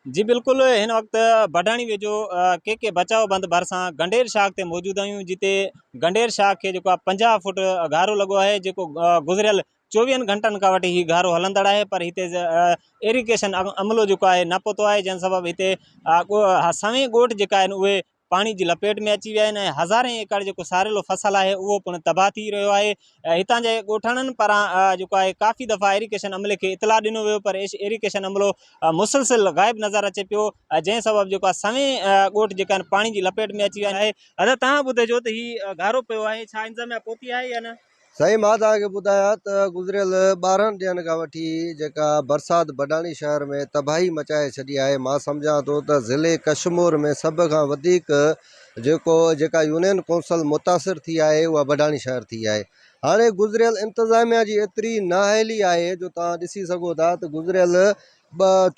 جي بلڪل هن وقت بڊاڻي ويجهو ڪي ڪي بچاء بند ڀرسان گنڊير شاخ تي موجود آهيون جتي گنڊير شاخ کي جيڪو آهي پنجاهه فوٽ گهارو لڳو آهي جيڪو گذريل چوويهن گهنٽن کان وٺي هي گهارو هلندڙ آهي پر هتي ايريگيشن عملو جيڪو آهي نه پهتو آهي جنهن سبب هتي سوين ڳوٺ جيڪا آهن اهي پاڻي جي لپيٽ ۾ اچي ويا آهن ۽ هزارين ايڪڙ جيڪو ساريلو فصل آهي اهو پڻ تباهه ٿي رهيو آهي هتان جي ڳوٺاڻن پاران جيڪو آهي ڪافي دفعا ايريڪيشن عملي کي اطلاع ڏنو ويو پر ايريڪيشن عملو مسلسل غائب نظر اچي پيو جنهن سبب جيڪو آهي سوين ڳوٺ جيڪا آهن پاڻي جي لپيٽ ۾ اچي ويا آهن دادا توهان ٻڌجو ته هي گهارو پيو آهي ڇا انتظاميا پهتي آهي يا نه سائين مان توهان کي ٻڌايان ته گذريل ٻارهن ڏينهن کان وٺي جيڪا برسات بڊاڻي شهر ۾ تباهي مچائي ڇڏي آهي مان سمجهان ٿو ته ضلعي ڪشمور ۾ سڀ کان وڌيڪ جيڪو جيڪا يونين ڪونسل متاثر ٿي آهي اها بڊاڻي شهر ٿي آهي هاڻي گذريل انتظاميا جي ايتري نااهلي آهي جو توهان ڏسي سگهو ٿا ته گذريل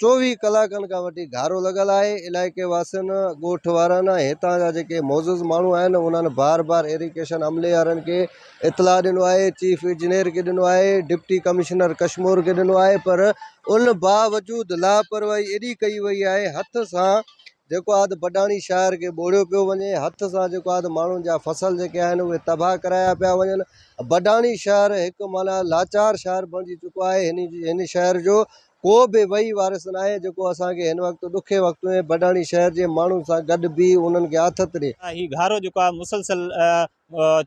چوويهه ڪلاڪن کان وٺي گهارو لڳل آهي علائقي واسين ڳوٺ وارن هتان جا جيڪي معزز ماڻهو آهن انهن بار بار ايريگيشن عملي وارن کي اطلاع ڏنو آهي چيف انجنيئر کي ڏنو آهي ڊپٽي ڪمشنر ڪشمور کي ڏنو آهي پر ان باوجود لاپرواهي ايڏي ڪئي وئي آهي هٿ سان جيڪو آهي ته بڊاڻي شاعر کي ٻوڙيو پيو وڃي هٿ سان جيڪو آهي ته ماڻهن جا فصل جيڪي آهن اهي تباهه ڪرايا پيا وڃن بڊاڻي شاعر هڪ معنيٰ لاچار شاعر بڻجي چڪو آهي هن جي هن شهر جو ڪو به وهي وارث ناهي جيڪو اسان کي هن وقت ڏکي وقت ۾ بڊاڻي شهر جي ماڻهن سان گڏ بيهي انهن کي آٿت ڏي. هي گهارو جيڪو آهي مسلسل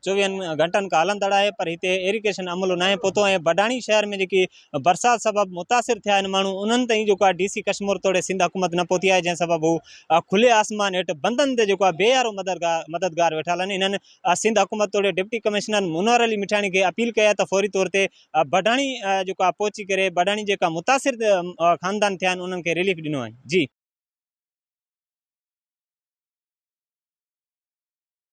چوويهن گهنٽن کان هلندڙ آهي پر هتي ايريگيشن عملو ناهي پهتو ۽ بڊاڻي شهر ۾ جيڪي برسات سبب متاثر ٿيا آهن ماڻهو انهن تائين جيڪو آهي ڊي سي ڪشمور توڙي سنڌ حڪومت نه پهتي آهي جنهن سبب هو کلي آسمان هيٺ بندن تي جيڪو آهي بي يارو مددگار ويٺا هلن انهن سنڌ حڪومت توڙي ڊپٽي ڪمشنر منور علي مٺاڻي کي اپيل ڪئي آهي ته فوري طور تي بڊاڻي جيڪو آهي پهچي ڪري بڊاڻي جيڪا متاثر خاندان ٿيا آهن انهن کي ريليف ڏنو وڃي جي